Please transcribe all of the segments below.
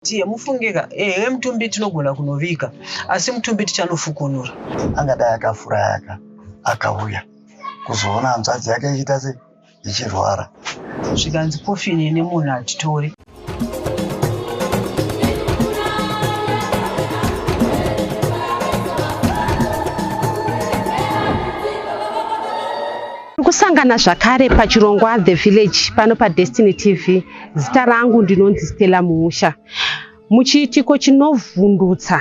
Tiye mufunge ka ehe mutumbi tinogona kunovika asi mutumbi tichanofukunura. Angadai akafurayaka akauya kuzoona hanzvadzi yake ichiita se ichirwara zvikanzi kofini ine munhu hatitori. Kusangana zvakare pachirongwa The Village pano paDestiny TV. Zita rangu ndinonzi Stella Muusha. Muchiitiko chinovhundutsa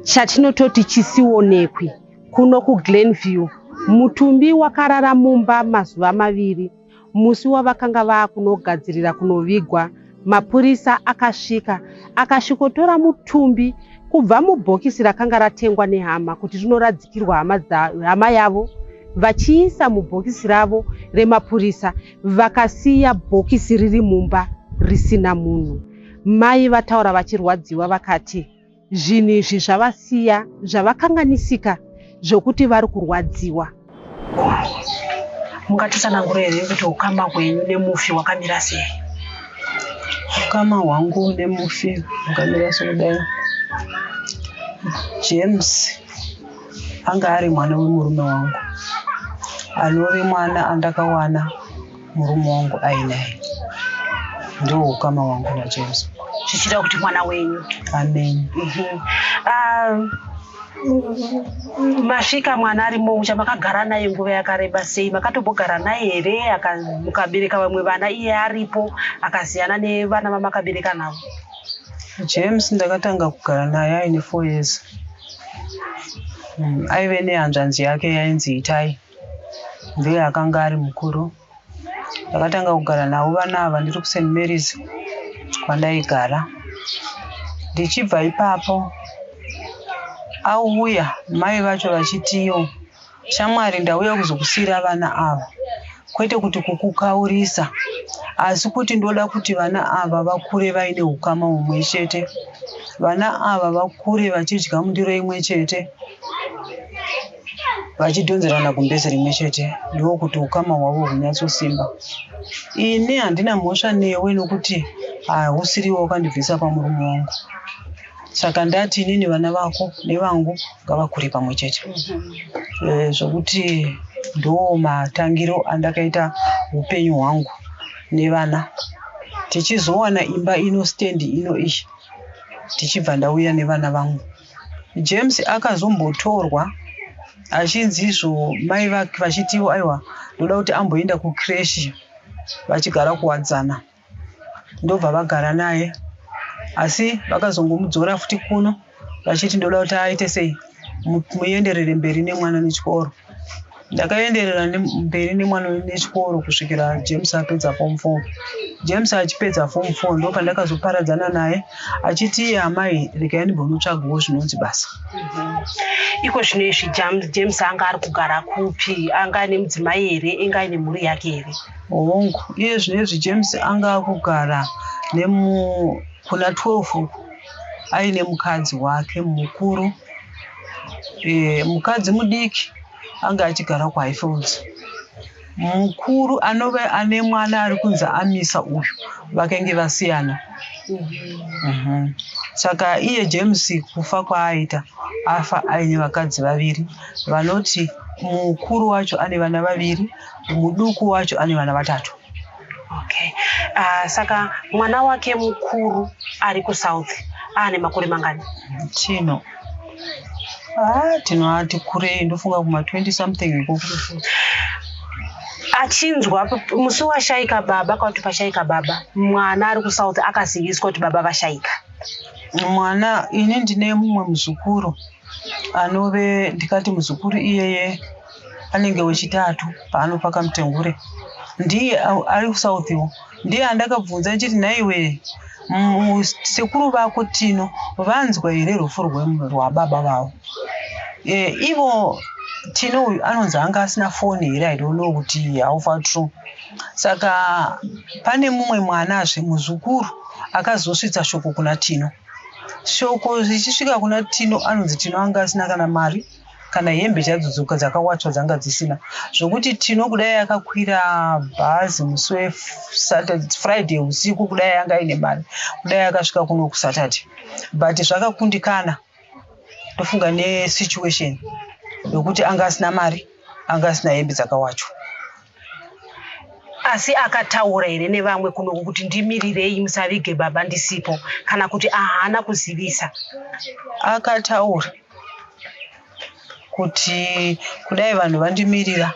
chatinototi chisionekwi kuno kuGlenview, mutumbi wakarara mumba mazuva maviri. Musi wavakanga vakunogadzirira kunovigwa, mapurisa akasvika akasvikotora mutumbi kubva mubhokisi rakanga ratengwa nehama kuti rinoradzikirwa hama yavo vachiisa mubhokisi ravo remapurisa Vakasiya bhokisi riri mumba risina munhu. Mai vataura vachirwadziwa vakati zvinhu izvi zvavasiya zvavakanganisika zvokuti vari kurwadziwa. Mungatitsanangura here kuti ukama hwenyu nemufi hwakamira sei? Ukama hwangu nemufi hwakamira sokudai. James. anga ari mwana wemurume wangu anove mwana andakawana murume wangu ainaye ndiwo ukama wangu najesu zvichida kuti mwana wenyu amen mhm. ah, masvika mwana ari moucha makagara naye nguva yakareba sei makatombogara naye here mukabereka vamwe vana iye aripo akasiyana nevana vamakabereka navo james ndakatanga kugara naye aine four years Mm, aive nehanzvanzi yake yainzi itai ndiye akanga ari mukuru ndakatanga kugara navo vana ava ndiri kust marys kwandaigara ndichibva ipapo auya mai vacho vachitiwo Shamwari ndauya kuzokusiira vana ava kwete kuti kukukaurisa asi kuti ndoda kuti vana ava vakure vaine ukama humwe chete vana ava vakure vachidya mundiro imwe chete vachidhonzerana gumbezi rimwe chete ndiwo kuti ukama hwavo hunyatsosimba ini handina mhosva newe nokuti hausiriwo wakandibvisa pamurume wangu saka ndati inini vana vako nevangu ngavakure pamwe chete Eh, zvokuti ndoo matangiro andakaita upenyu hwangu nevana tichizowana imba ino stand ino iyi tichibva ndauya nevana vangu james akazombotorwa achinzi izvo mai vake vachitiwo aiwa ndoda kuti amboenda kucreshi vachigara kuwadzana ndobva vagara naye asi vakazongomudzora futi kuno vachiti ndoda kuti aite sei muenderere mberi nemwana nechikoro ndakaenderera mberi nemwana nechikoro kusvikira james apedza fom four james achipedza fom four ndo pandakazoparadzana naye achiti iye amai regai ndimbonotsvagawo zvinonzi basa mhm. iko zvino izvi james anga ari kugara kupi anga ane mudzimai here inga ine mhuri yake here Hongu, iye zvinezvi James anga akugara nemu kuna 12 uku aine mukadzi wake mukuru. E, mukadzi mudiki anga achigara kuHighfields. Mukuru anove ane mwana ari kunzi amisa uyu vakenge vasiyana. Mhm. Saka iye James kufa kwaaita afa aine vakadzi vaviri vanoti mukuru wacho ane vana vaviri muduku wacho ane vana vatatu okay uh, saka mwana wake mukuru ari kusouth aane makore mangani tino ah, tino ati kurei ndofunga kuma 20 something ikoko achinzwa musi washaika baba kwakuti pashaika baba mwana ari kusouth akaziviswa kuti baba vashaika mwana ini ndine mumwe muzukuru anove ndikati muzukuru iyeye anenge wechitatu paanopa kamutengure ndiye ari kusauthiwo ndiye andakabvunza ndichiti nhaiwe sekuru vako tino vanzwa here rufu rwababa vavo e, ivo tino uyu anonzi anga asina foni here i don't know kuti haufa true saka pane mumwe mwanazve muzukuru akazosvitsa shoko kuna tino shoko zvichisvika kuna tino anonzi tino anga asina kana mari kana hembe chadzo dzakawatswa dzanga dzisina zvokuti tino kudai akakwira bhazi musi wefriday usiku kudai anga aine mari kudai akasvika kuno kusaturday but zvakakundikana ndofunga nesituation yokuti anga asina mari anga asina hembe dzakawachwa asi akataura here nevamwe kunoku kuti ndimirirei musavige baba ndisipo kana kuti ahana kuzivisa akataura kuti kudai vanhu vandimirira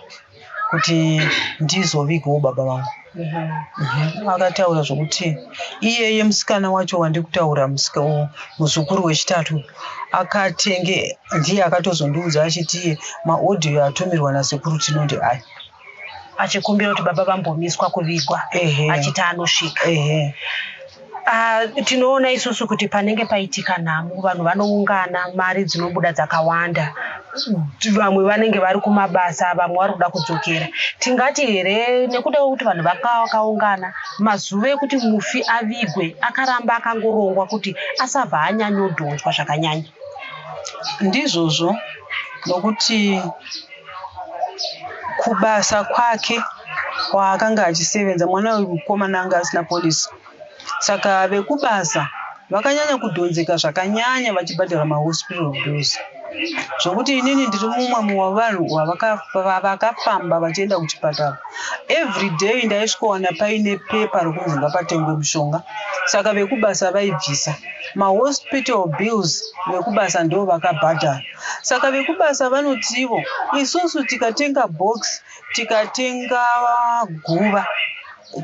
kuti ndizovigawo baba vangu Mhm. akataura zvokuti iyeye musikana wacho wandikutaura musika uyu muzukuru wechitatu uyu, akatenge ndiye akatozondiudza achiti iye maaudio atumirwa nasekuru tinonde aya achikumbira kuti baba vambomiswa kuvigwa achiti anosvika Uh, tinoona isusu kuti panenge paitika nhamo vanhu vanoungana mari dzinobuda dzakawanda vamwe vanenge vari kumabasa vamwe vari kuda kudzokera tingati here nekuda kwekuti vanhu vakawakaungana mazuva ekuti mufi avigwe akaramba akangorongwa kuti asabva anyanyodhonzwa zvakanyanya ndizvozvo nokuti kubasa kwake kwaakanga achisevenza mwana wemukomana anga asina polisi Saka vekubasa vakanyanya kudhonzeka zvakanyanya vachibhadhara mahospital bills zvokuti inini ndiri mumwe muwavanhu vavakafamba vachienda kuchipatara every day ndaisvikowana paine pepa rokunzi ngapatengwe mushonga saka vekubasa vaibvisa mahospital bills vekubasa ndo vakabhadhara saka vekubasa vanotivo isusu tikatenga box tikatenga guva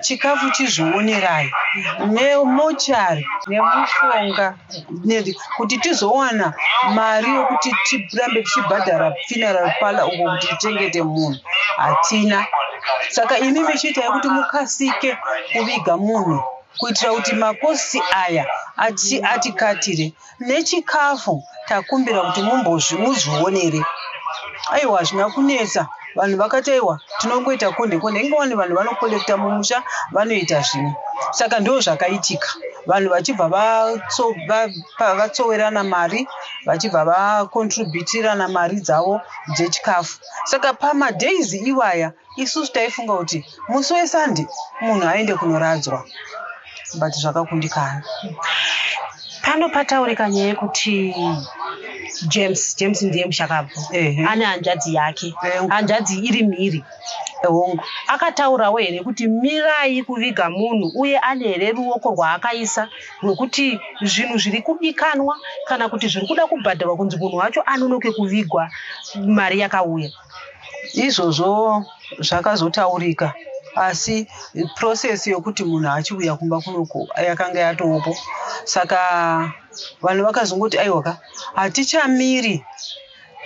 chikafu chizvionerai nemochari nemushonga kuti tizowana mari yokuti tirambe tichibhadhara funeral parlor uko kuti tichengete munhu hatina saka imi michiita yekuti mukasike kuviga munhu kuitira kuti makosti aya atikatire nechikafu takumbira kuti mumbozvi muzvionere aiwa hazvina kunetsa vanhu vakati aiwa tinongoita konde konde inge wani vanhu vanokolekta mumusha vanoita zvimwe saka ndo zvakaitika vanhu vachibva vatsowerana mari vachibva vakontributirana mari dzavo dzechikafu saka pamadays iwaya Isusu taifunga kuti musi weSunday munhu aende kunoradzwa but zvakakundikana. Pano pataurika nyaya yekuti James, James ndiye mushakabvu. Ehe. Ane hanzvadzi yake. Ehe. Hanzvadzi iri mhiri. Hongu. Akataurawo here kuti mirai kuviga munhu uye ane here ruoko rwaakaisa rwekuti zvinhu zviri kudikanwa kana kuti zviri kuda kubhadharwa kunzi munhu wacho anonoke kuvigwa mari yakauya. Izvozvo zvakazotaurika asi process yokuti munhu achiuya kumba kunoku yakanga yatopo saka vanhu vakazongoti aiwaka hatichamiri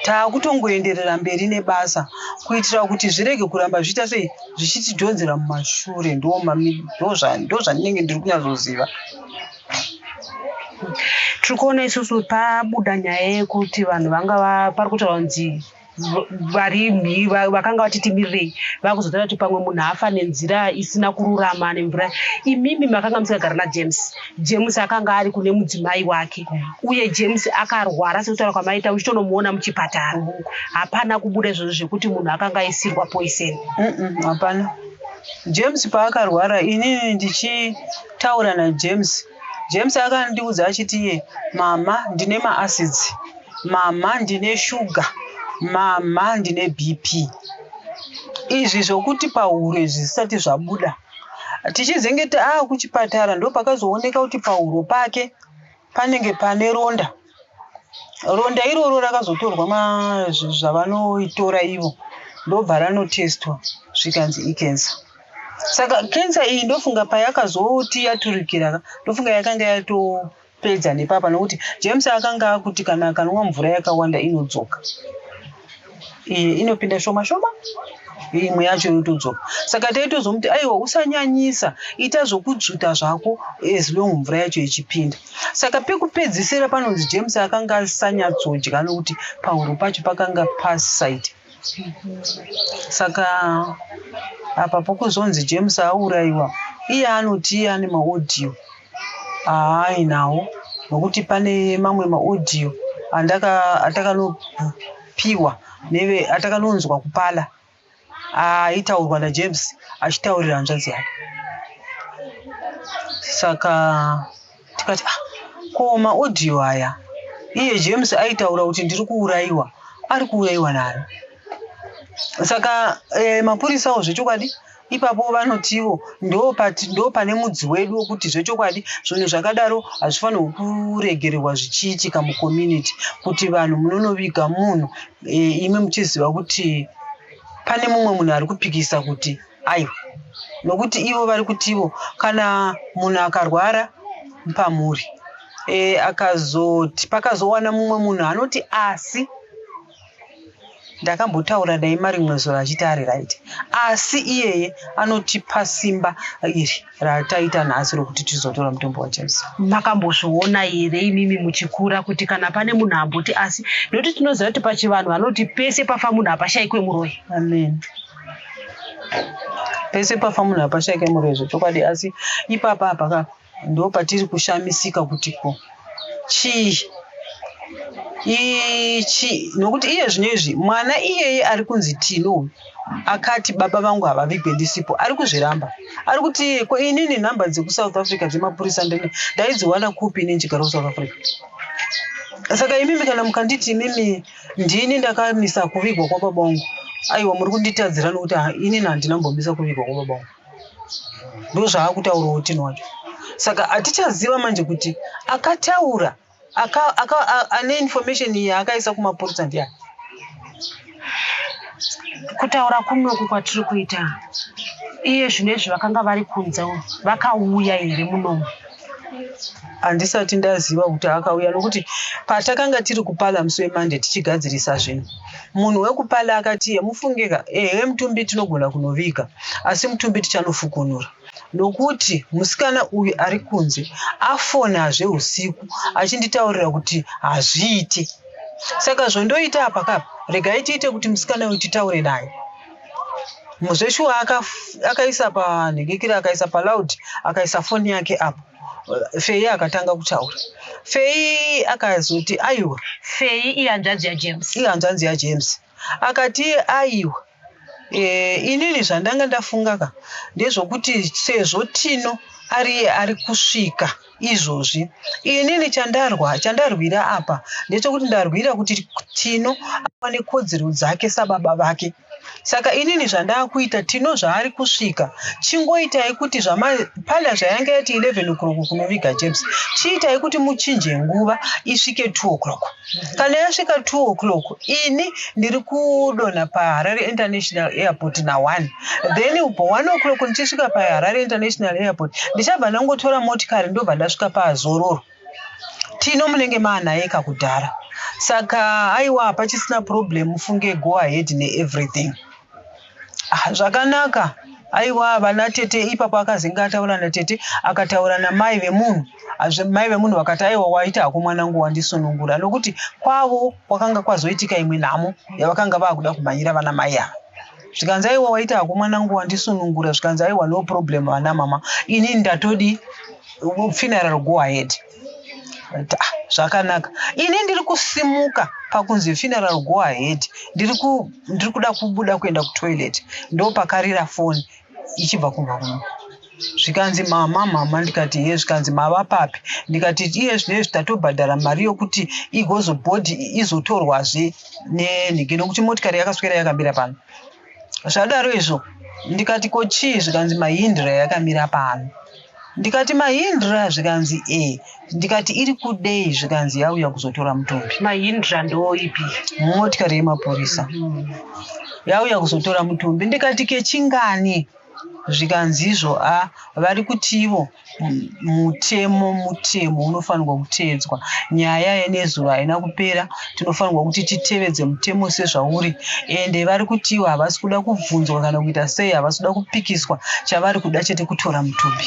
taakutongoenderera mberi nebasa kuitira kuti zvirege kuramba zviita sei zvichitidhonzera mumashure ndozvandinenge ndiri kunyatsoziva tiri kuona isusu pabuda nyaya yekuti vanhu vanga pari kutaura kunzi vari vakanga vati timirirei vakuzotaura kuti pamwe munhu afa nenzira isina kururama nemvura imimi makanga musingagara najames james akanga ari kune mudzimai wake uye james akarwara sekutaura kwamaita uchitonomuona muchipatara hapana kubuda izvozvo zvekuti munhu akanga aisirwa poison hapana james paakarwara inini ndichitaura najames James akandiudza achiti iye mama ndine maacids mama ndine shuga mama ndine bp izvi zvokuti pahuro izvi zvisati zvabuda tichizenge taakuchipatara ndopakazooneka kuti pahuro pake panenge pane ronda ronda iroro rakazotorwa zvavanoitora ivo ndobva ranotestwa zvikanzi icancer saka cancer iyi ndofunga payakazoti yaturikira ka ndofunga yakanga yatopedza nepapa nokuti james akanga akuti kana akanwa mvura yakawanda inodzoka iyi inopinda shoma shoma imwe yacho yotodzoka saka taitozomuti aiwa usanyanyisa ita zvokudzvuta zvako as long mvura yacho ichipinda saka pekupedzisira panonzi james akanga asanyatsodya nokuti pahuro pacho pakanga pasite saka apa pokuzonzi james aurayiwa iye anoti iye ane maodhiyo haai nawo nokuti pane mamwe maaudio atakanopiwa neve atakanonzwa kupala aitaurwa najames achitaurira hanzvadzi yake saka tikati ah, ko maaudio aya iye james aitaura kuti ndiri kuurayiwa ari kuurayiwa nani saka eh, mapurisawo zvechokwadi Ipapo vanotiwo ndopane mudzi wedu wekuti zvechokwadi zvinhu zvakadaro hazvifanirwe kuregererwa zvichiitika mucommunity kuti vanhu munonoviga munhu eh, imi muchiziva kuti pane mumwe munhu ari kupikisa kuti aiwa nokuti ivo vari kutivo kana munhu akarwara pamhuri e, akazoti pakazowana mumwe munhu anoti asi ndakambotaura naye marimwe zuva achiti ari right asi iyeye anotipa simba iri rataita nhasi rokuti tizotora mutombo wajesu makambozviona here imimi muchikura kuti kana pane munhu amboti asi nokuti tinoziva kuti pachivanhu vanoti pese pafa munhu hapashaikwe muroyi amen pese pafa munhu hapashaike murezo chokwadi asi ipapa hapaka Ndo patiri kushamisika kuti ko chii ichi nokuti iye zvino izvi mwana iyeye ari kunzi tino akati baba vangu havavigwe ndisipo ari kuzviramba ari kuti ko inini nhamba dzekusouth africa dzemapurisa ndene ndaidziwana kupi inini chigara kusouth africa saka imimi kana mukanditi imimi ndini ndakamisa kuvigwa kwababa wangu aiwa muri kunditadzira nokuti inini handina mbomisa kuvigwa kwababa wangu ndozvaakutaura otini wacho saka hatichaziva manje kuti akataura aka, aka, ane information iyi akaisa kumapurisa ndiani kutaura kunoku kwatiri kuita iye zvino izvi vakanga vari kunze vakauya here munomu handisati ndaziva kuti akauya nokuti patakanga tiri kupala musi wemande tichigadzirisa zvinhu munhu wekupala akatiye mufungeka ehe mutumbi tinogona kunoviga asi mutumbi tichanofukunura nokuti musikana uyu ari kunze afonazve usiku achinditaurira kuti hazviite saka zvondoita apakapa regai tiite kuti musikana uyu titaure naye zveshuwa akaisa panhingikira akaisa paloud akaisa foni yake apo fei akatanga kutaura fei akazoti aiwa fei ihanzvanzi yajames ihanzvanzi yajames akati aiwa e, inini zvandanga ndafunga ka ndezvokuti sezvo tino ariye ari kusvika izvozvi inini chandarwa chandarwira apa ndechekuti ndarwira kuti tino awane kodzero dzake sababa vake saka inini zvandakuita tino zvaari kusvika chingoitai kuti zvamapala zvayange yati 11 o'clock kunoviga james chiitai kuti muchinje nguva isvike 2 o'clock Kana yasvika 2 o'clock ini ndiri kudonha paHarare International Airport na1 then upo 1 o'clock ndichisvika paHarare International Airport ndichabva ndangotora motikari ndobva ndasvika paZororo. Tino munenge maanaye kakudhara saka aiwa hapachisina problem mufunge go ahead neeverything. Ah, zvakanaka aiwa vana tete ipapo akazinga ataura natete akataura namai vemunhu mai vemunhu vakati aiwa waita hako mwanangu wandisunungura nokuti kwavo kwakanga kwazoitika imwe nhamo yavakanga vakuda kumhanyira vana mai ava zvikanzi aiwa waita hako mwanangu wandisunungura zvikanzi aiwa no problem vana mama ini ndatodi funeral go ahead Ta, zvakanaka ini ndiri kusimuka pakunzi funeral go ahead ndiri ku- ndiri kuda kubuda kuenda kutoilet ndopakarira foni ichibva kumba kuno zvikanzi mama mama ndikati ye zvikanzi mava papi ndikati iye zvinezvi tatobhadhara mari yokuti igozobhodhi izotorwazve nenhige nokuti motikari yakaswera yakamira pano zvadaro izvo ndikati ko chii zvikanzi mahindra yakamira pano ndikati mahindra zvikanzi e ndikati iri kudei zvikanzi yauya kuzotora mutumbi mahindra ndooipi motikari yemapurisa yauya kuzotora mutumbi ndikati kechingani zvikanzizvo a vari kutivo mutemo mutemo unofanirwa kuteedzwa nyaya yenezuva haina kupera tinofanirwa kuti titevedze mutemo sezvauri ende vari kutivo havasi kuda kubvunzwa kana kuita sei havasi kuda kupikiswa chavari kuda chete kutora mutumbi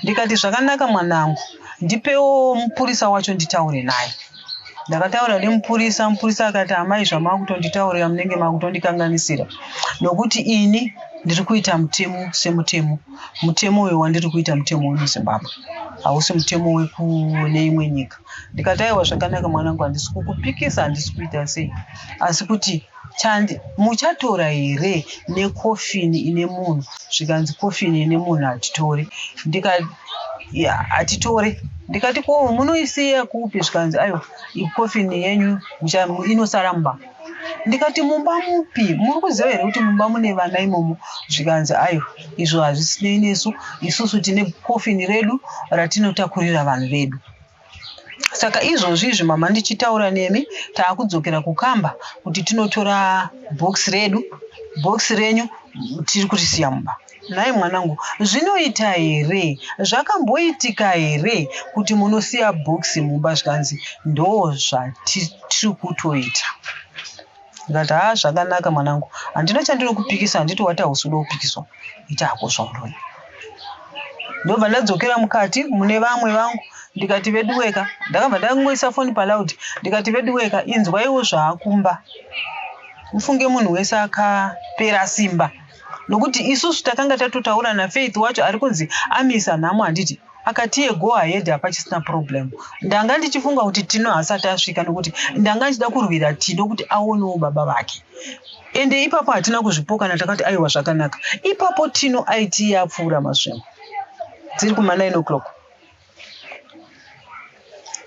ndikati zvakanaka mwanangu ndipewo mupurisa wacho nditaure naye ndakataura nemupurisa mupurisa akati amai zvamakutonditaurira munenge makutondikanganisira nokuti ini ndiri kuita mutemo semutemo mutemo uyo wandiri kuita mutemo wemuzimbabwe hausi mutemo wekune imwe nyika ndikataiwa zvakanaka mwanangu handisi kukupikisa handisi kuita sei asi kuti Thandi, Muchatora here necoffin ine munhu zvikanzi coffin ine munhu hatitori ndikati yeah hatitore ndikati ko munoisiya kupi zvikanzi aiwa coffin yenyu inosara mumba ndikati mumba mupi muri kuziva here kuti mumba mune vana imomo zvikanzi ayo izvo hazvisinei nesu isusu tine kofini redu ratinotakurira vanhu vedu Saka izvozvi izvi mama ndichitaura nemi taakudzokera kukamba kuti tinotora box redu box renyu tiri kurisiya mumba nhai mwanangu zvinoita here zvakamboitika here kuti munosiya box mumba zvikanzi ndoo zvatiri kutoita ndikati haa zvakanaka mwanangu handina chandiri kupikisa handiti wati hausi kuda kupikiswa iti hakosva murume ndobva ndadzokera mukati mune vamwe vangu ndikati veduweka ndakabva ndangoisa foni palaud ndikati veduweka inzwaiwo zvaakumba ufunge munhu wese akapera simba nokuti isusu takanga tatotaura nafaith wacho ari kunzi amisa nhamo handiti akati iye go ahead hapachisina problem ndanga ndichifunga kuti tino haasati asvika nokuti ndanga ndichida kurwira tino kuti aonewo baba vake ende ipapo hatina kuzvipokana takati aiwa zvakanaka ipapo tino aiti iye apfuura masvimo dziri kuma 9 o'clock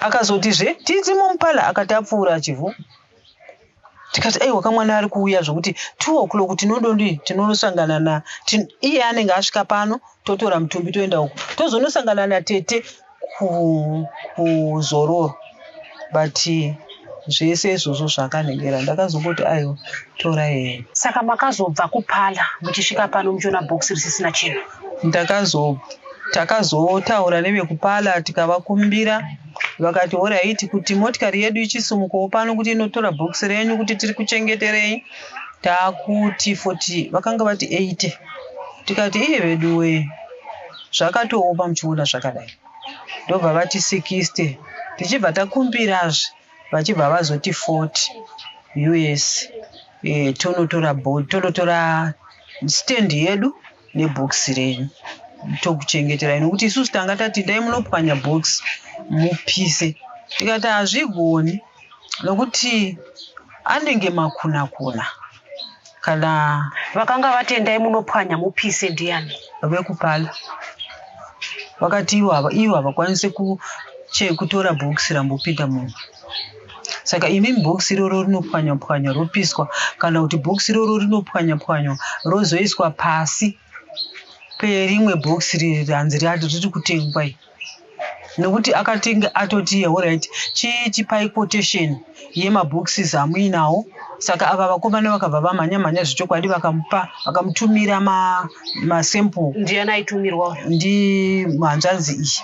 akazotizve tizimomupala akati apfuura achivhu tikati aiwa kamwana ari kuuya zvokuti two o'clock tinododii tinonosangana na iye anenge asvika pano totora mutumbi toenda uku tozonosangana natete kuzororo but zvese izvozvo zvakanhengera ndakazongoti aiwa tora hee saka makazobva kupala muchisvika pano muchiona box risisina chinhu ndakazobva takazotaura nevekupala tikavakumbira vakati horaiti kuti motikari yedu ichisumukawo pano kuti inotora bhokisi renyu kuti tiri kuchengeterei taakuti 40 vakanga vati 80 tikati iye vedu wee zvakatoopa muchiona zvakadai ndobva vati 60 tichibva takumbirazve vachibva vazoti 40 us e, eh, tonotora tonotora stand yedu nebhokisi renyu tokuchengeterai nokuti isusu tanga tati dai munopwanya bhokisi mupise tikati hazvigoni nokuti anenge makuna kuna kana vakanga vatendai munopwanya mupise ndiyani vekupala vakati ivo havakwanise kutora bhokisi rambopinda munhu saka imi bhokisi iroro rinopwanywa pwanywa ropiswa kana kuti bhokisi iroro rinopwanywa pwanywa rozoiswa pasi perimwe bhokisi riri ranzi riri kutengwa iri nekuti akatinge atoti horit chiitipai quotation yemaboxes amuinawo saka ava vakomana vakabva vamhanya mhanya zvechokwadi vakamupa vakamutumira masample ma ndiani aitumirwa ndi mhanzvanzi iyi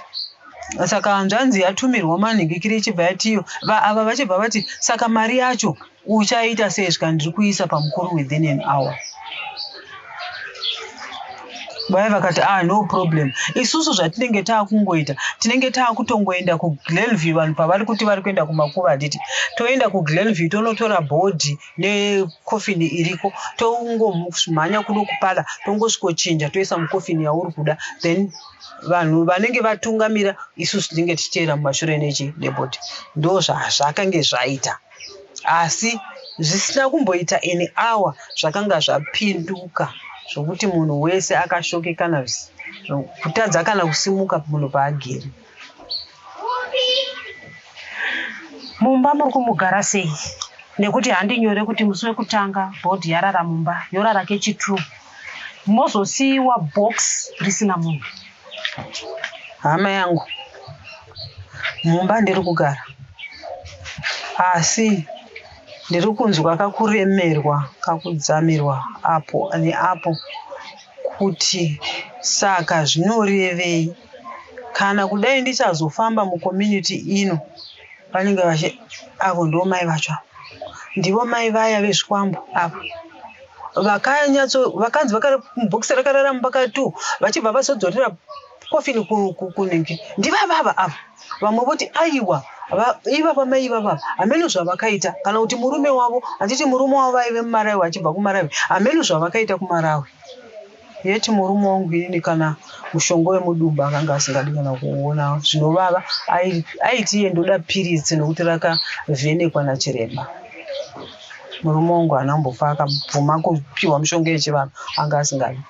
saka hanzvanzi yatumirwa manhingikiri ichibva yatiyo va ava vachibva vati saka mari yacho uchaita sei svika ndiri kuisa pamukuru within an hour vaya vakati ah no problem isusu zvatinenge taakungoita tinenge taakutongoenda kuglenview vanhu pavari kuti vari kuenda kumakuva handiti toenda kuglenview tonotora bhodhi nekofini iriko tongomhanya kuno kupala tongosvikochinja toisa mukofini yauri kuda then vanhu vanenge vatungamira isusu tinenge tichiteera mumashure nechi deboti ndo zvazvakange zvaita asi zvisina kumboita any hour zvakanga zvapinduka zvokuti munhu wese akashokekana kutadza kana kusimuka munhu paagere mumba muri kumugara sei nekuti handinyore kuti musi wekutanga bhodhi yarara mumba yorara kechitru mozosiiwa box risina munhu hama yangu mumba ndiri kugara asi ndiri kunzwa kakuremerwa kakudzamirwa apo neapo kuti saka zvinorevei kana kudai ndichazofamba mucommunity ino vanenge vachi avo ndo mai vacho avo ndivo mai vaya vezvikwambo avo vakanyatso vakanzi bhokisi rakarara mumba ka two vachibva vazodzorera kofini kunenge ndivavava ava vamwe voti aiwa ivava mai ivava hameno zvavakaita kana kuti murume wavo handiti murume wavo vaive mumarawi achibva kumarawi hameno zvavakaita kumarawi Yet murume wangu ini kana mushonga wemudumbu akanga asingadi kana kuona zvinovava aiti iye ndoda piritsi nokuti rakavhenekwa nachiremba murume wangu haana kumbofa akabvuma kupiwa mushonga yechivanhu anga asingadi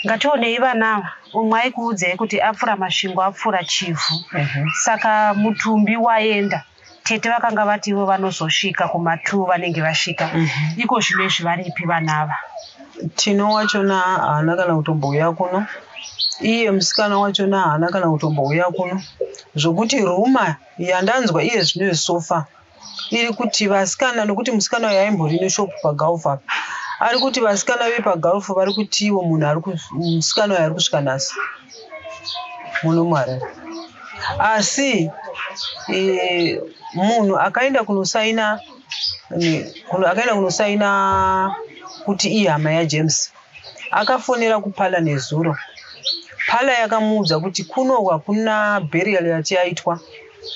ngationei vana ava umwe aikuudzei kuti apfura masvingo apfura chivhu mhm. saka mutumbi waenda tete vakanga vati ivo vanozosvika kuma two vanenge vasvika Mhm. iko zvino izvi varipi vana ava tino wachona haana kana kutombouya kuno iye musikana wachona haana kana kutombouya kuno zvokuti ruma yandanzwa iye zvino yesofa iri kuti vasikana nokuti musikana uyu aimbori neshop pagalf apa ari kuti vasikana vepagalf vari kuti iwo munhu ari ku- musikana uyu ari kusvika nhasi muno muharare asi e, munhu akaenda kunosaina akaenda kunosaina kuti ihama yajames akafonera kupala nezuro pala yakamuudza kuti kunohwa kuna bherial yati yaitwa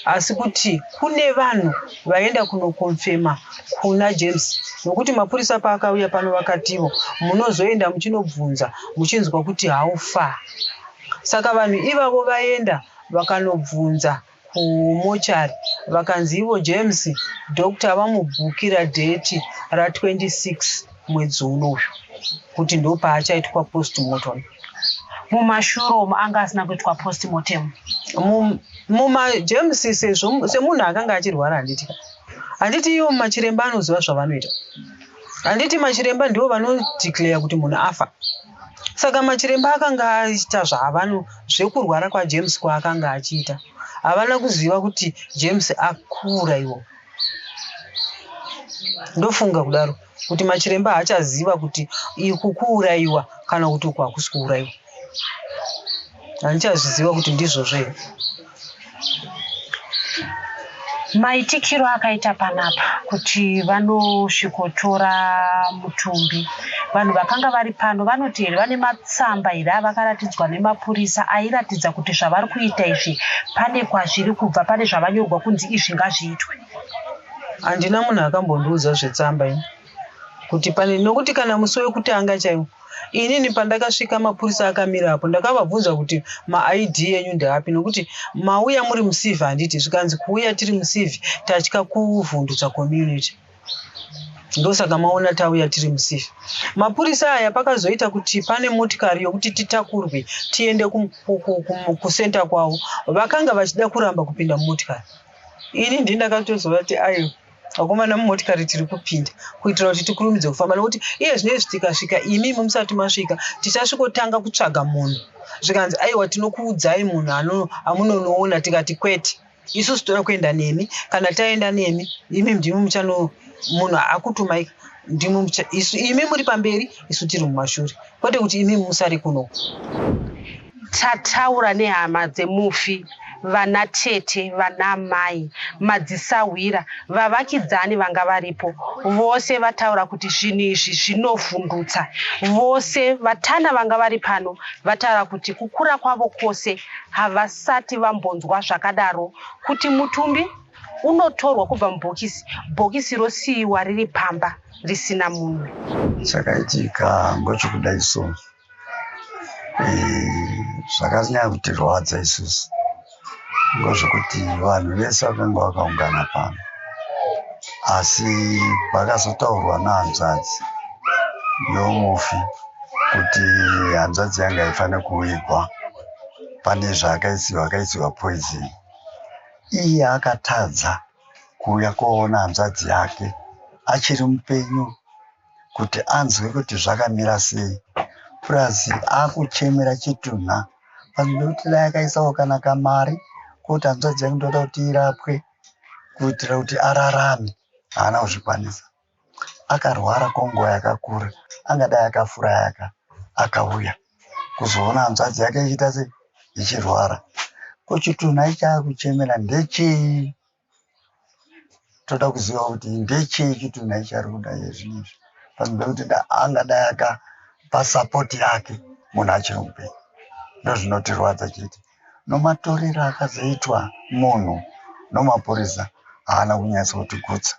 asi kuti kune vanhu vaenda kunokonfema kuna james nokuti mapurisa paakauya pano vakativo munozoenda muchinobvunza muchinzwa kuti haufa saka vanhu ivavo vaenda vakanobvunza kumochari vakanzi ivo james doctor vamubhukira dheti ra26 mwedzi uno uyu kuti ndopaachaitwa postmorton mumashuro umu anga asina kuitwa postmortem mumajems semunhu akanga achirwara handiti handiti ivo machiremba anoziva zvavanoita handiti machiremba ndivo vanodeclare kuti munhu afa saka machiremba akanga aita zvaavano zvekurwara kwajames kwaakanga achiita havana kuziva kuti james akura iwo ndofunga kudaro kuti machiremba haachaziva kuti iku kuurayiwa kana kuti uku hakusi kuurayiwa handichazviziva kuti ndizvozvo here maitikiro akaita panapa kuti vanosvikotora mutumbi vanhu vakanga vari pano vanoti here vane matsamba here avakaratidzwa nemapurisa airatidza kuti zvavari kuita izvi pane kwazviri kubva pane zvavanyorwa kunzi izvi ngazviitwe handina munhu akambondiudza zvetsamba ini kuti pane nokuti kana musi wekutanga chaiwo inini pandakasvika mapurisa akamira apo ndakavabvunza kuti maid enyu ndeapi nokuti mauya muri musivi handiti zvikanzi kuuya tiri musivi tatya kuvhundutswa community ndosaka maona tauya tiri musifi mapurisa aya pakazoita kuti pane motikari yokuti titakurwe tiende kucenter kwavo vakanga vachida kuramba kupinda mumotikari ini ndi ndakatozova kuti ayo vakomana mumotikari tiri kupinda kuitira kuti tikurumidze kufamba nokuti iye zvino izvi tikasvika imi imi musati masvika tichasvikotanga kutsvaga munhu zvikanzi aiwa tinokuudzai munhu ano amunonoona tikati kwete isusu toda kuenda nemi kana taenda nemi imi ndimi muchano munhu akutumai ndimwi mucha isu imi muri pamberi isu tiri mumashure kwete kuti imi musari kuno tataura nehama dzemufi vana tete vana mai madzisahwira vavakidzani vanga varipo vose vataura kuti zvinhu izvi zvinovhundutsa vose vatana vanga vari pano vataura kuti kukura kwavo kwose havasati vambonzwa zvakadaro kuti mutumbi unotorwa kubva mubhokisi bhokisi rosiyiwa riri pamba risina munhu chakaitika ngochikuda isu zvakanyanya kutirwadza isusu ngozvekuti vanhu vese vakanga vakaungana pano asi pakazotaurwa nahanzvadzi yomufi kuti hanzvadzi yanga haifanira kuigwa pane zvaakaisiwa akaisiwa poison Iye akatadza kuuya koona hanzvadzi yake achiri mupenyu kuti anzwe kuti zvakamira sei plus akuchemera chitunha panoda kuti dai akaisawo kana kamari kuti hanzvadzi yake ndoda kuti irapwe kuitira kuti ararame haana kuzvikwanisa akarwara kwenguva yakakura angadai akafuraya ka akauya kuzoona hanzvadzi yake ichiita sei ichirwara kochitunha ichaakuchemera ndechei toda kuziva kuti ndechei chitunha ichari kuda iye zvinhu izvi panoda kuti angadai akapa sapoti yake munhu achiri mupenyu ndozvinotirwadza chete nomatorero akazoitwa munhu nomapurisa haana kunyatsotigutsa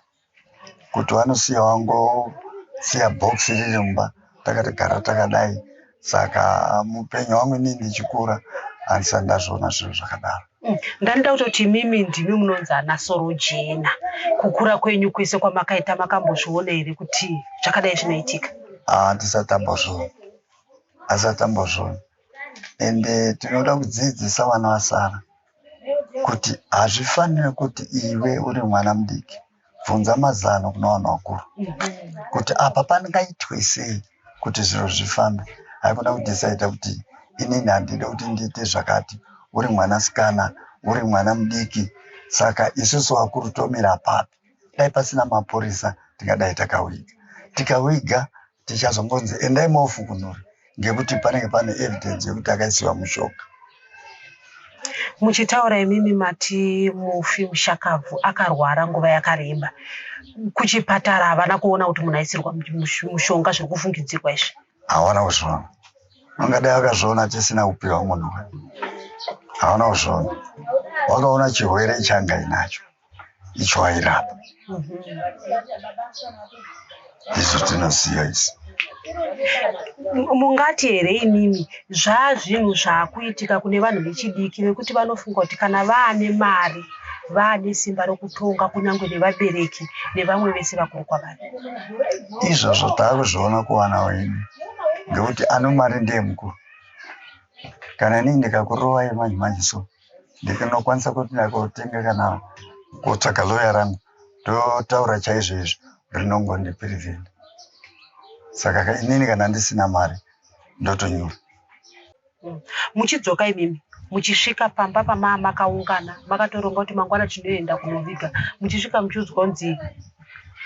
kuti vanosiya vangosiya box riri mumba takatogara takadai saka mupenyu wangu inini ndichikura andisati ndazviona zviro zvakadaro mm. ndandida kutoti imimi ndimi munonzi ana sorojena kukura kwenyu kwese kwamakaita makambozviona here kuti zvakadai zvinoitika handisati ah, ambozviona handisati ambozviona ende tinoda kudzidzisa vana vasara kuti hazvifanire kuti iwe uri mwana mudiki bvunza mazano kuna vanhu vakuru kuti apa pangaitwe sei kuti zviro zvifambe haikona kudesaida kuti inini handide kuti ndiite zvakati uri mwana sikana uri mwana mudiki saka isusu vakuru tomira papi dai pasina mapurisa tingadai takawiga tikawiga tichazombonzi endai mofukunura ngekuti panenge pane evidence yekuti akaisiwa mushoka muchitaura imimi mati mufi mushakabvu akarwara nguva yakareba kuchipatara havana kuona kuti munhu aisirwa mushonga zviri kufungidzirwa izvi hawana kuzviona angadai akazviona tisina kupiwa munhu hawana kuzviona wakaona chirwere changai nacho icho airapa izvo tinosiya isi mungati here imimi zvaazvinhu zvaakuitika kune vanhu vechidiki vekuti vanofunga kuti kana vaane mari vaane simba rokutonga kunyange nevabereki nevamwe vese vakuru kwavari izvozvo taakuzviona kuvana wenyu ngekuti ano mari ndeye mukuru kana inini ndikakurova yemanje manje so ndikanokwanisa kuti ndakotenga kana kotsvaga loya rangu ndotaura chaizvo izvo rinongondipirivhina saka inini kana ndisina mari ndotonyura mm. muchidzoka imimi muchisvika pamba pamaa makaungana makatoronga kuti mangwana tinoenda kunoviga muchisvika muchiudzwa kunzi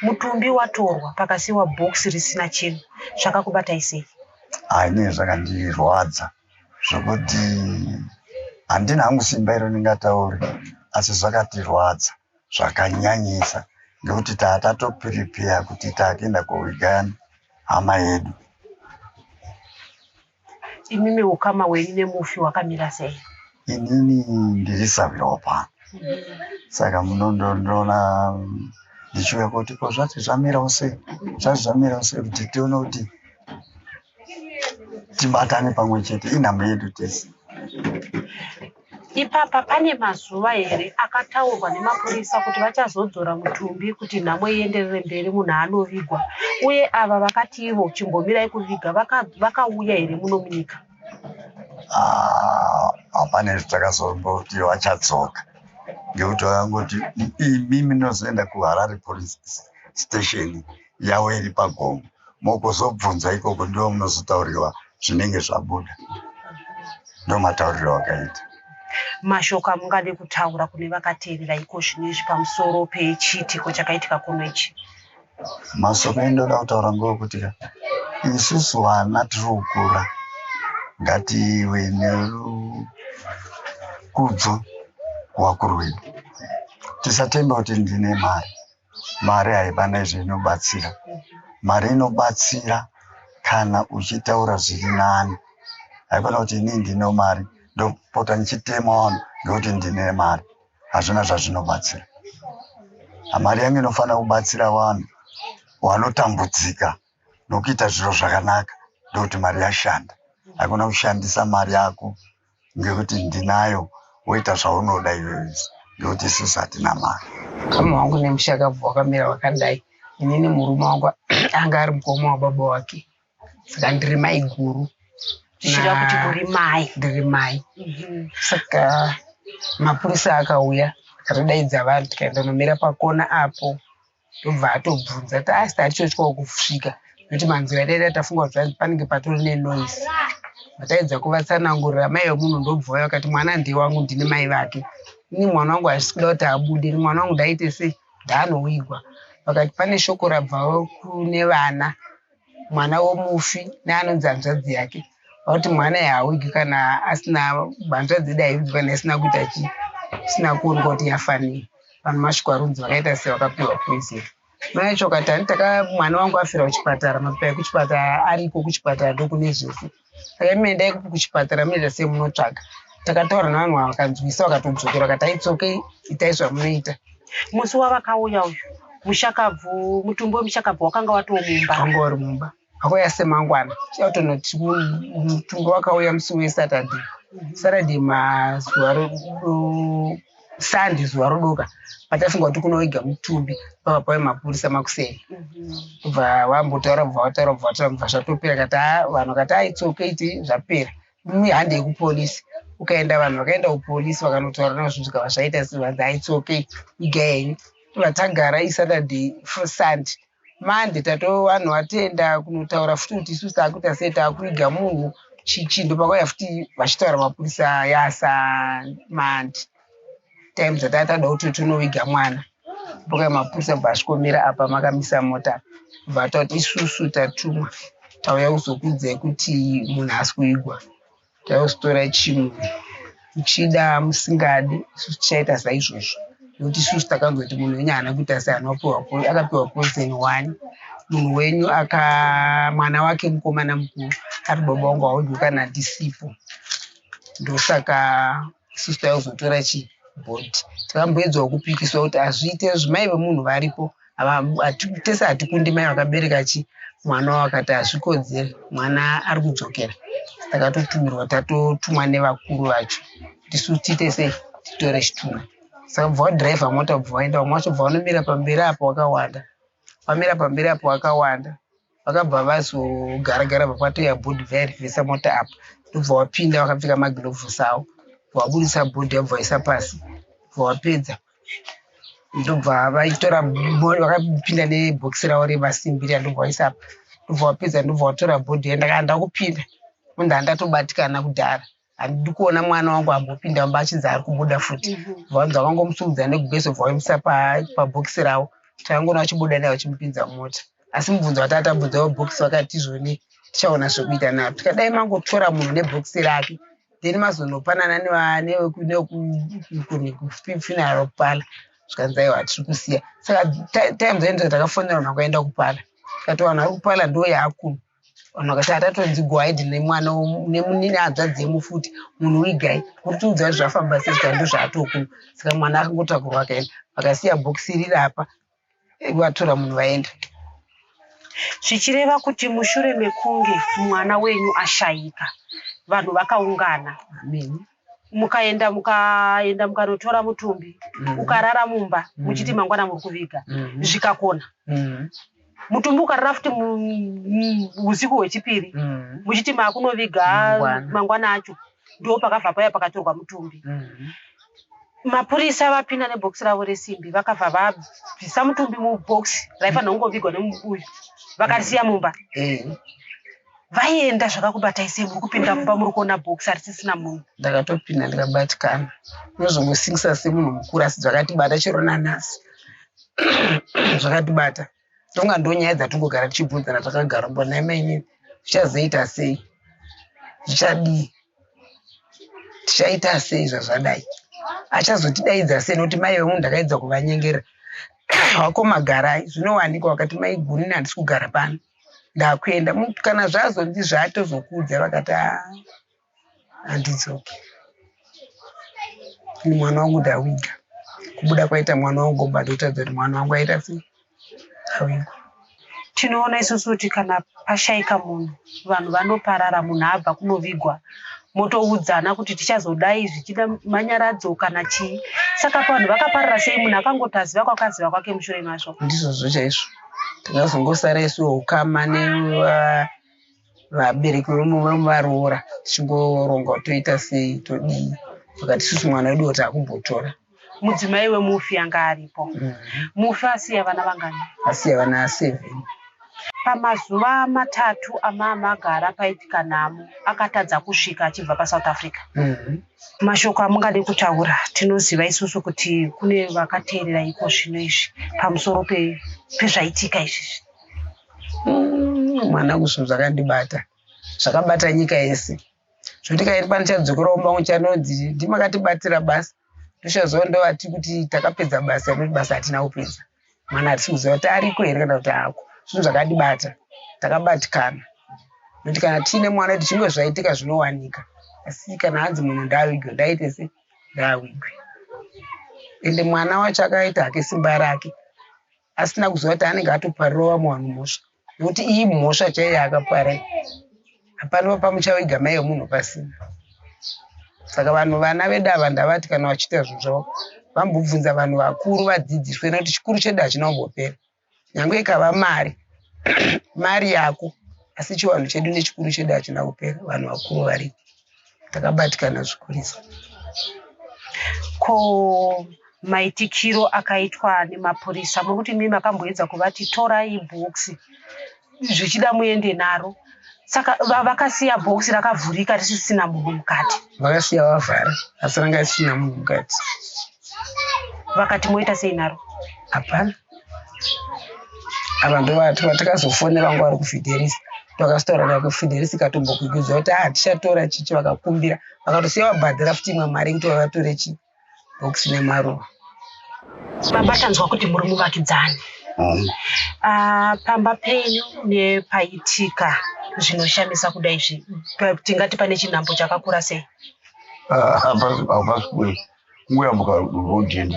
mutumbi watorwa pakasiwa box risina chinhu zvakakubatai sei haine zvakandirwadza zvokuti handina hangu simba iro ndingataure asi zvakatirwadza zvakanyanyisa nekuti taa tatopiripeya kuti takuenda kowigani hama yedu imimi ukama wenyu nemufi wakamira sei inini ndiri saviropa saka munondondoona ndichiuya kuti ko zvati zvamirawo sei zvati zvamirawo sei kuti tione kuti tibatane pamwe chete inhamba yedu tese ipapa pane mazuva here akataurwa nemapurisa kuti vachazodzora mutumbi kuti nhamo ienderere mberi munhu anovigwa uye ava vakati ivo chimbomirai kuviga vakauya here muno munyika ah, hapana izvi takazomboti vachadzoka ngekuti vakangoti imimi nozoenda kuharare police station yavo iri pagongo mokuzobvunza ikoko ndiwo munozotaurirwa zvinenge zvabuda ndomatauriro wakaita mashoko amungade kutaura kune vakateerera iko zvino izvi pamusoro pechiitiko chakaitika kuno ichi mashoko endoda kutaura ngeokuti ka isusu vana tiri kukura ngative nekudzo kuvakuru vedu tisatemba kuti ndine mari Mari haiba nezveinobatsira. Mari inobatsira kana uchitaura zviri nani. Haikona kuti ini ndine mari ndopota ndichitema vanhu ndokuti ndine mari. Hazvina zvazvinobatsira. Mari yangu inofanira kubatsira vanhu vanotambudzika nokuita zviro zvakanaka ndokuti mari yashanda. Haikona kushandisa mari yako. ngekuti ndinayo woita zvaunoda iyoyo ngekuti isusu hatina mari mukoma wangu nemushakabvu wakamira wakadai inini murume wangu anga ari mukoma wababa wake saka ndiri mai guru zvichida kuti uri mai ndiri mai mhm. saka mapurisa akauya akatodaidza vanhu tikaenda nomira pakona apo ndobva atobvunza kuti asi tatichotyawo kusvika nekuti manzira ataita tafunga kuti zvanzi panenge patori nenoise vataedza kuvatsanangurira mai vemunhu ndobva vaya vakati mwana ndewangu ndine mai vake ini mwana wangu hazvisi kuda kuti abude ini mwana wangu ndaite sei ndaanoigwa vakati pane shoko rabvawo kune vana mwana womufi neanonzi hanzvadzi yake vakuti mwana yaawigi kana asina hanzvadzi yedu haivigi kana isina kuita chii isina kuoneka kuti yafanei vanhu masvikwa runzi vakaita se vakapiwa poison mai chokwatani taka mwana wangu afira kuchipatara mapipa ekuchipatara ariko kuchipatara ndokune zvese Akati mendai kuchipatara munoita sei munotsvaga. Takataura nevanhu ava vakanzwisa vakatodzokera vakati it's okay itai zvamunoita. Musi wavakauya uyu mushakabvu mutumbi wemushakabvu wakanga watoo mumba. Wanga wari mumba. Akauya semangwana. Chautonoti mutumbi wakauya musi weSaturday. Saturday mazuva Sunday zuva rodoka patafunga kuti kunoiga mutumbi pava pave mapurisa makuseni kubva wambotaura kubva wataura kubva wataura kubva zvatopera kati haa ah, vanhu kati haa ah, it's okay ti zvapera mihande yekupolisi ukaenda vanhu vakaenda kupolisi vakanotaura navo zvinhu zvikava zvaita vanzi haa ah, it's okay iga yenyu vatagara isaturday sunday Manje tatowanhu watoenda kunotaura futi kuti isusu takuita sei takuviga munhu chichi ndopakauya futi vachitaura mapurisa ayasa manje time dzatanga tatoda kuti tonoviga mwana ndopakauya mapurisa bva asvikomira apa makamisa mota bva tati isusu tatumwa tauya kuzokuudzai kuti munhu asi kuigwa Tausitora chimwe muchida musingadi isu tichaita saizvozvo nokuti isusu takazoti munhu wenyu haana kuita seanopiwa akapiwa poison one munhu wenyu aka mwana wake mukomana mukuru ari baba wangu haudyi kana ndisipo ndosaka isusu taizotora chi board tikamboedzwa kupikiswa kuti hazviite zvimai vemunhu varipo tese hatikundi mai vakabereka chi mwana wakati hazvikodzere mwana ari kudzokera takatotumirwa tatotumwa nevakuru vacho kuti su tiite sei titore chitunha saka bva wadhiraivha mota bva waenda vamwe vacho bva vanomira pamberi apo wakawanda wamira pamberi apo wakawanda vakabva vazogara gara vakwatoya bhodhi vairivhisa mota apa ndobva wapinda vakapfeka magirovhosi avo vabudisa bhodhi yabva vaisa pasi vapedza ndobva vaitora vakapinda nebhokisi ravo remasimbi riya ndobva vaisa apa ndobva vapedza ndobva vatora bhodhi yandakanda kupinda munhu andatobatikana kudhara handidi kuona mwana wangu ambopinda mumba achinzi ari kubuda futi vanza mhm. vangomusumudza nekubeso bvaoimisa pabhokisi ravo takangoona vachibuda naye vachimupinza mumota asi mubvunzo vatatabvunza vabhokisi vakati izvoni tichaona zvekuita navo tikadai mangotora munhu nebhokisi rake then mazonopanana nekufinaro kupala zvikanzi aiwa tiri kusiya saka time zainzva takafonera vanhu vakaenda kupala tikati vanhu vari kupala ndo yaakuma vanhu vakati atatonzi gwide nemwana nemunini hanzvadzi yemufuti munhu wigai kuri tiudza kuti zvafamba sei sika ndo zvaatokuma saka mwana akangotakurwa akaenda vakasiya bhokisi riri apa vatora munhu vaenda zvichireva kuti mushure mekunge mwana wenyu ashaika vanhu vakaungana ameni mukaenda mukaenda mukanotora mutumbi mm. ukarara mumba mm. muchiti mangwana muri kuviga mm. zvikakona mm. mutumbi ukarara futi usiku hwechipiri mm. muchiti maakunoviga mm. mangwana acho ndo pakabva paya pakatorwa mutumbi mm. mapurisa vapinda nebhokisi ravo resimbi vakabva vabvisa mutumbi mubhokisi raifanira kungovigwa nemubuyu vakarisiya mumba mm. vaienda zvakakubatai sei muri kupinda mumba muri kuona box harisisina munhu ndakatopinda ndikabatikana unozongosingisa semunhu mukuru asi zvakatibata chero nanhasi zvakatibata tonga ndonyaya dzatongogara tichibvunzana takagara mbo nhai mainini zvichazoita sei zvichadii tichaita sei zvazvadai achazotidaidza sei nokuti mai vemunhu ndakaedza kuvanyengera wako magarai zvinowanikwa wakati maiguni handisi kugara pano ndakuenda kana zvazonzi zvatozokudza vakati handidzoki ini mwana wangu ndawiga kubuda kwaita mwana wangu mba ndotadza kuti mwana wangu aita sei awigwa tinoona isusu kuti kana pashaika munhu vanhu vanoparara munhu abva kunovigwa motoudzana kuti tichazodai zvichida manyaradzo kana chii saka pavanhu vakaparara sei munhu akangotaziva kwakaziva kwake mushure mazvo ndizvozvo chaizvo tinozongosara isu ukama nevabereki vemuvaroora tichingoronga kuti toita sei todii vakati isusu mwana wedu woti akumbotora mudzimai wemufi anga aripo mm. mufi asiya vana vangani asiya vana seven pamazuva matatu amamagara paitika nhamo akatadza kusvika achibva pasouth africa mm -hmm. mashoko amungade kutaura tinoziva isusu kuti kune vakateerera iko zvino izvi pamusoro pezvaitika izvizvi mm, mwana kusvo zvakandibata zvakabata nyika yese zvokuti kairi pano chadzokorawo mangu chanonzi ndimakatibatsira basa ndochazova ndovati kuti takapedza basa noti basa hatina kupedza mwana hatisi kuziva kuti ariko here kana kuti haako zvinhu zvakatibata takabatikana nokuti kana tiine mwana kuti zvimwe zvaitika zvinowanika asi kana hanzi munhu ndaavigwe ndaite se ndaavigwe ende mwana wacho akaita hake simba rake asina kuziva kuti anenge atoparirova muwanhu mhosva nokuti iyi mhosva chaiyo yakapara hapana pamuchaviga mai yemunhu pasina saka vanhu vana vedu ava ndavati kana vachiita zvinhu zvavo vambobvunza vanhu vakuru vadzidziswe nokuti chikuru chedu hachina kumbopera nyange ikava mari mari yako asi chivanhu chedu nechikuru chedu hachina kupera vanhu vakuru varipo Ndakabatikana zvikurisa. Ko maitikiro akaitwa nemapurisa mokuti mimi makamboedza kuvati torai bhokisi zvichida muende naro saka vakasiya bhokisi rakavhurika risisina munhu mukati vakasiya vavhara asi ranga risina munhu mukati vakati moita sei naro hapana ava ndovati vatakazofonera vanga vari kufidelisa takasitaura naye kufidelisa ikatombokwikwidzwa kuti a ah, tichatora chichi vakakumbira vakatosiya vabhadhara futi imwe mari yekuti vavatore chi bhokisi nemaruva baba tanzwa kuti muri muvakidzani mm. ah, pamba penyu nepaitika zvinoshamisa kudai zvi tingati pane chinhambo chakakura sei ah, kungoyambuka road and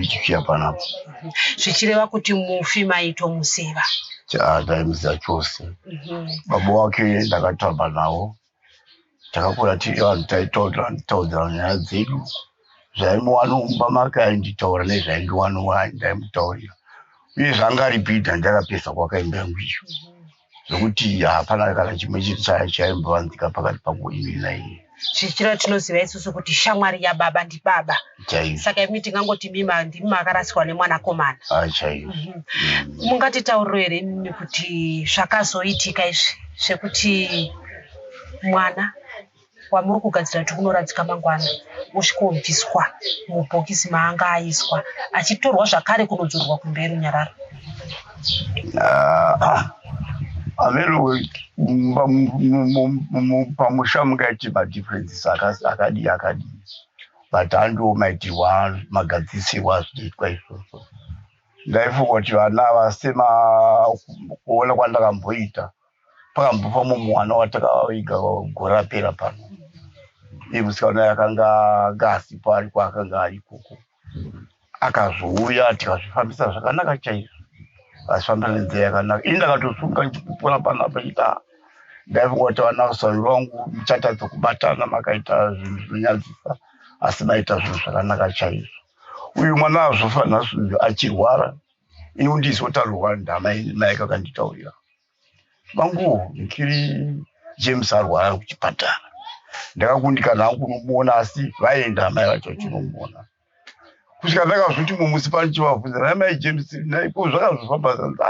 chichiya panapo zvichireva kuti mufi maito musiva taimziva chose mhm. baba wake ndakatamba nawo takakura tiri vanhu taitaudzana nyaya dzedu zvaimuwano mumba make ainditaura nezvaindiwano ndaimutaurira uye zvangaripida ndakapesa kwakaimba yangu iyo mhm. zvekuti hapana kana chimwe chiri chaimbovanzika pakati pangu ini naiye zvichiro tinoziva isusu kuti shamwari yababa ndibaba chaiyo saka imi tingangoti mima ndimi makarasirwa nemwanakomana ah, chaiyo mhm. mm. mungatitauriro here imimi kuti zvakazoitika izvi zvekuti mwana wamuri kugadzira kuti unoradzika mangwana wosvikobviswa mubhokisi maanga aiswa achitorwa zvakare kunodzorerwa kumba yerunyararo pamusha mungaiti madifferences akadii akadii but andiwo maitirwa magadzisirwa azvinoitwa izvozvo ndaifunga kuti vana vasema kuona kwandakamboita pakambva pamomuwana watakaviga gore rapera pano iye musikana yakanga anga asipo ariko akanga arikoko akazouya tikazvifambisa zvakanaka chaizvo azvifambisa nenzira yakanaka ini ndakatosunga ndikupona panapa ita ndaifunga kuti vana usari vangu muchatadza kubatana makaita zvinhu zvinonyadzisa asi maita zvinhu zvakanaka chaizvo uyu mwana azvofa nhasi uyu achirwara ini ndizotarirwa ndamai mai kakanditaurira mangu ndiri james arwara kuchipatara ndakakundikana hangu kunomuona asi vaenda amai vacho vachinomuona kusvika ndakazoti mumusi pano chivabvunza nai mai james naiko zvakazofamba zanza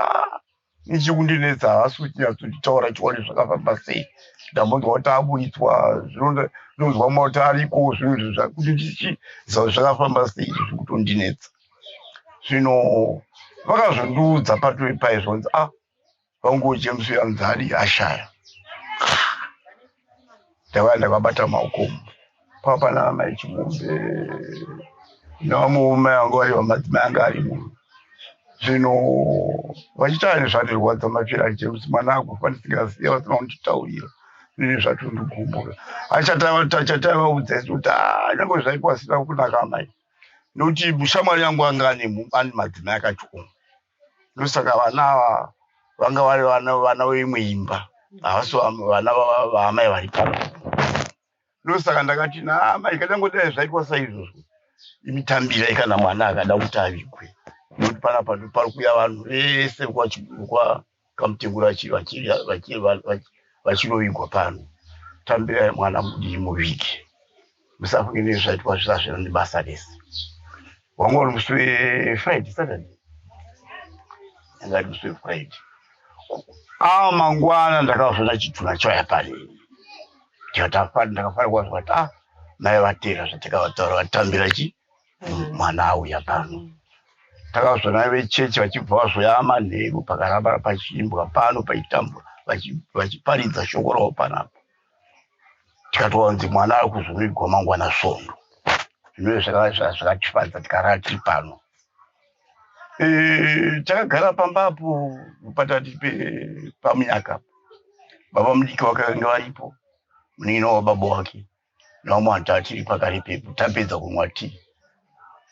Nechikundinetsa haasi kuti nyatsotaura chione zvakafamba sei ndambonzwa kuti aburitswa zvinonzwa mwa kuti ariko zvinhu izvi zvakuti ndichiziva kuti zvakafamba sei izvi zvekutondinetsa zvino vakazondiudza patove paizvonzi a ah, vangu james yanzari ashaya ndava ndakabata maoko pava pana amai chimombe nevamwe mai vanga vari vamadzimai anga arimo zvino vachitaura nezvandirwadza mafira aite kuti mwana akufa ndisingaziva vasina kunditaurira zvine zvatondigombora achatavaudza isi kuti ah, nyange zvaiko asina kunaka amai nokuti mushamwari yangu anga ane madzimai akachioma ndosaka vana ava vanga vari vana vana veimwe imba havasi vana vaamai vari pano ndosaka ndakati naamai kadangodai zvaitwa saizvozvo imitambira ikana mwana akada kuti avigwe nokuti panapa ndopari kuya vanhu vese kamutengura vachirovigwa pano tambirai mwana mudii muviki musafunge nezvi zvaitwa zvisa zvina nebasa rese wanga uri musi wefriday saturday anga ari musi wefriday aa mangwana ndakazvona chituna chaya pari ndakafanira kwanzwa kuti a ah, mai vatera zvatakavataura vatambira chii mwana auya pano takazvana vechechi vachibva vazoya manheru pakaramba pachiimbwa pano paitambwa vachiparidza shoko ravo panapo tikatowanzi mwana ari kuzovigwa mangwana svondo zvinoe zvakatifadza tikarara tiri pano eh, takagara pamba apo patati pamunyaka baba mudiki vakange varipo munin'ina wababa wake nomwe antu achiri pakari pepo tapedza kunwa ti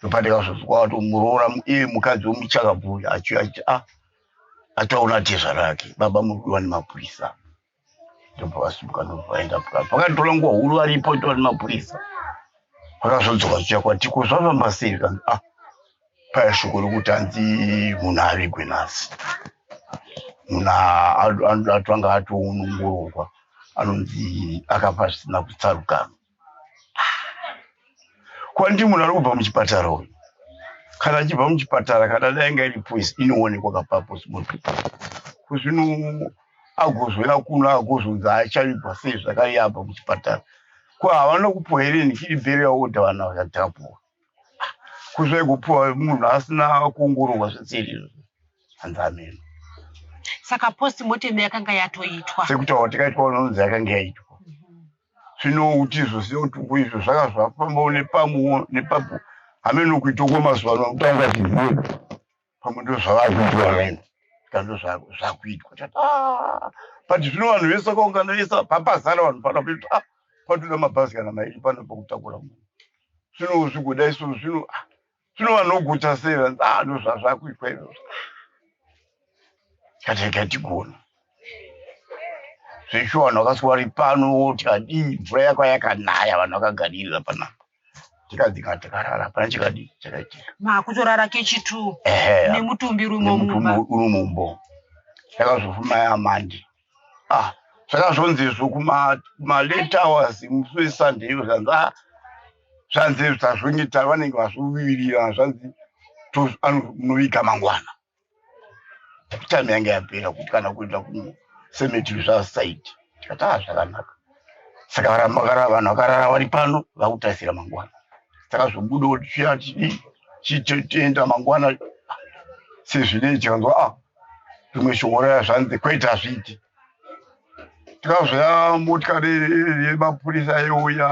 topatika zvozwaato muroora iye mukadzi womuchakabvuya achiuya achiti a ah, ataona tezva rake baba muri kudiwa nemapurisa ndobva vasimuka ndovaenda pukapa vakatora nguva huru varipo ndiwa nemapurisa vakazodzoka zviya kwatiko zvafamba sei kanzi a ah, Paya shoko rokuti hanzi munhu avigwe nhasi, munhu anoda atanga atoongororwa anonzi akafa zvisina kutsarukana. Kwandi munhu ari kubva muchipatara uyu, kana achibva muchipatara kana dainga iri poisi inoonekwa kapapo simoto kuzvino agozouya kuno agozonzi achavigwa sei zvakaiabva muchipatara ko havana kupuwa here nhikiri bheri yaoda vana vachatapuwa kusvika kupiwa munhu asina kuongororwa zvitsiri hanzi ameno saka post mortem yakanga yatoitwa sekutaura tikaitwa unonzi yakanga yaitwa zvino kuti izvo seotuko izvo zvanga zvafambawo nepamwewo nepapo hameno kuitoko mazuva ano kutanga zvizivo pamwe ndozvavakuitwa vamene ska ndozvakuitwa tati ah, but zvino vanhu vese vakaungana vese papazara vanhu pano kuti ah, patoda mabhazi kana maiti pano pakutakura munhu zvino zvigoda isu zvino ah, zvino vanoguta sei vanzi ah, ndozvazvakuitwa izvozvo kati katigona zveshuwa vanhu vakaswari pano woti adii mvura yako yakanaya vanhu vakagaririra panapa chikadzika chakarara pana chikadi chakaitika makutorara kechitu ehe nemutumbi urimo mumba nemutumbi uri mumbo takazofuma yamandi ah zvakazonzizvo kuma kuma late hours musi wesunday iyo zvanzi ah zvanzi tazvongeta vanenge vazvivirira zvanzi to- ano- munoviga mangwana time yange yapera kuti kana kuenda kusemeti zvasaiti tikataa zvakanaka saka varamagara vanhu vakarara vari pano vakutarisira mangwana saka zvobudo tichiya chidii chitoenda mangwana sezvinei tikanzwa a ah, zvimwe shongoraya zvanzi kwete hazviiti tikazvaya motikari yemapurisa yeuya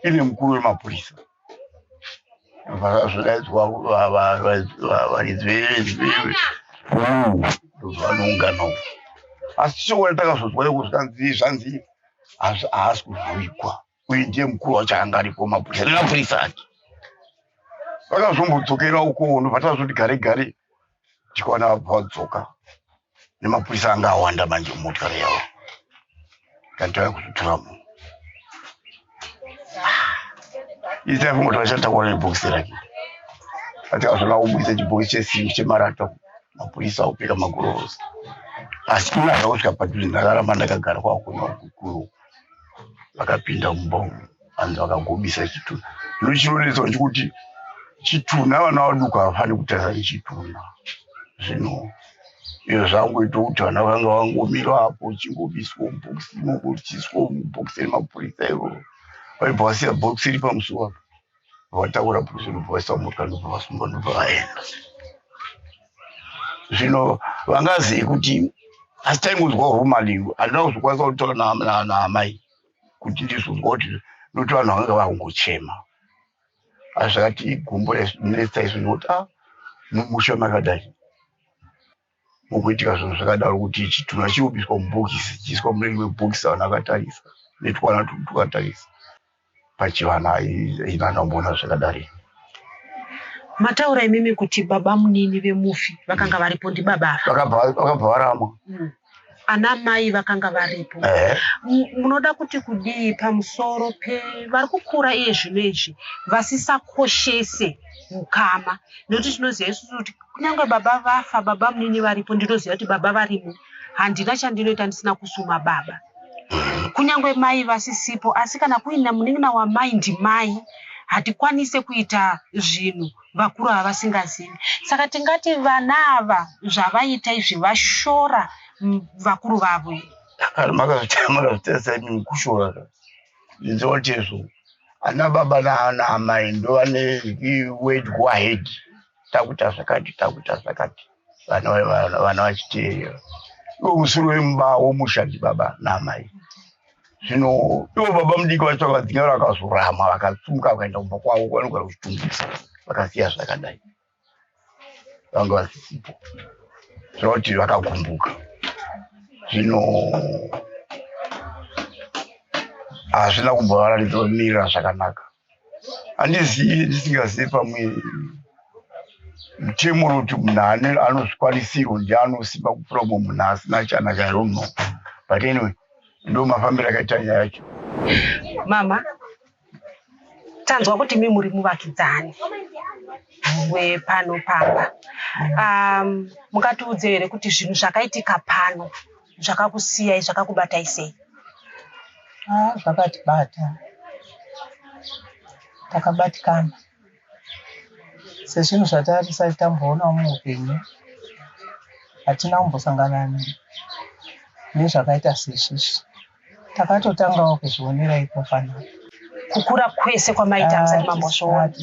ine mukuru wemapurisa varidzi vanoungana uko asi tichiona takazodzwa iko zvikanzi zvanzi haasi kuzovigwa uye ndiye mukuru wacho anga aripo mapurisa nemapurisa ake vakazombodzokera uko ndobva tazoti gare gare tikaona vabva vadzoka nemapurisa anga awanda manje mumotokari yavo kana tava kuzotora munhu itai kungotora chatakuona nebhokisi rake atikazvona kubudisa chibhokisi chesimbi chemarata mapurisa akupfeka magorosi asi ina zvakosvika padhuze ndakaramba ndakagara kwakuona kukuru vakapinda mumba umu vanhu vakagobisa chitunha ndochinoneswa chekuti chitunha vana vaduku havafani kutadza nechitunha zvino iyo zvangoita kuti vana vanga vangomira apo uchingobiswa mubhokisi imomo uchiswa mubhokisi remapurisa iro vaibva vasiya bhokisi iri pamusoro apo vatakura bhokisi ndobva vaisa mota ndobva vasumba ndobva vaenda zvino vangazii kuti asi taingonzwa rumalingo handina kuzokwanisa kutaura naamai kuti ndizvo ngoti noti vanhu vanga vakungochema asi zvakati igumbo rainetsa izvo nekuti a ah, mumusha makadai mukuitika zvinhu zvakadaro kuti chitunha chiubiswa mubhokisi chiiswa mune rimwe bhokisi vanhu akatarisa netwana tudu tukatarisa pachivana aina akamboona zvakadari mataura imimi kuti baba munini vemufi vakanga varipo ndibaba vakabva varamwa mm. ana mai vakanga varipo eh. munoda kuti kudii pamusoro pevari kukura iye zvino izvi vasisakoshese ukama nekuti tinoziva isu kuti kunyange baba vafa baba munini varipo ndinoziva kuti baba varimo handina chandinoita ndisina kusuma baba kunyange mai vasisipo asi kana kuina munin'ina wamai ndimai hatikwanise kuita zvinhu vakuru ava vasingazivi saka tingati vana ava zvavaita izvi vashora vakuru vavo makazvitarisaimukushora ndizotezvo ana baba naana amai ndovane wed go ahead takuita zvakati takuita zvakati vana vachiti ndomusuru wemumba womusha ndibaba naamai zvino ivo baba mudiki vacho vakadzinga vara vakazorama vakatsumuka vakaenda kumba kwavo kwanogara kuchitungisa vakasiya zvakadai vanga vasisipo zvakuti vakagumbuka zvino hazvina kumbovaratidza kumirira zvakanaka handizivi ndisingazivi pamwe mutemo unoti munhu ane anozvikwanisirwo ndi anosimba kupfuura mumwe munhu asina chanaka i don't know but anyway ndo mafambiro akaita nyaya yacho mama tanzwa kuti mi muri muvakidzani wepano pamba um, mungatiudze here kuti zvinhu zvakaitika pano zvakakusiyai zvakakubatai sei ah, zvakatibata takabatikana sezvinhu zvatarisati tamboonawo muupenyu hatina kumbosangana nezvakaita sezvizvi takatotangawo kuzvionera iko fana kukura kwese kwamaita ah, musati mambozviona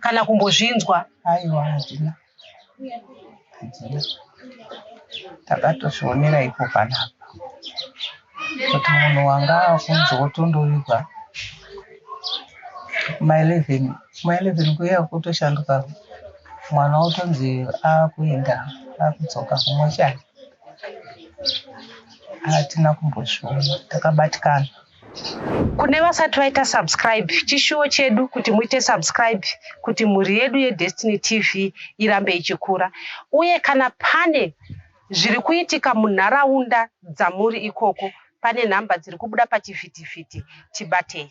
kana kumbozvinzwa aiwa hatina Takatozvionera ipo panapa kuti munhu wanga akunzi wotondovigwa kuma 11 kuma 11 kuya kutoshanduka mwana otonzi akuenda akudzoka kumwe chake hatina kumbozviona takabatikana kune vasati vaita subscribe chishuwo chedu kuti muite subscribe kuti mhuri yedu yedestiny tv irambe ichikura uye kana pane zviri kuitika munharaunda dzamuri ikoko pane nhamba dziri kubuda pachivhitivhiti tibatei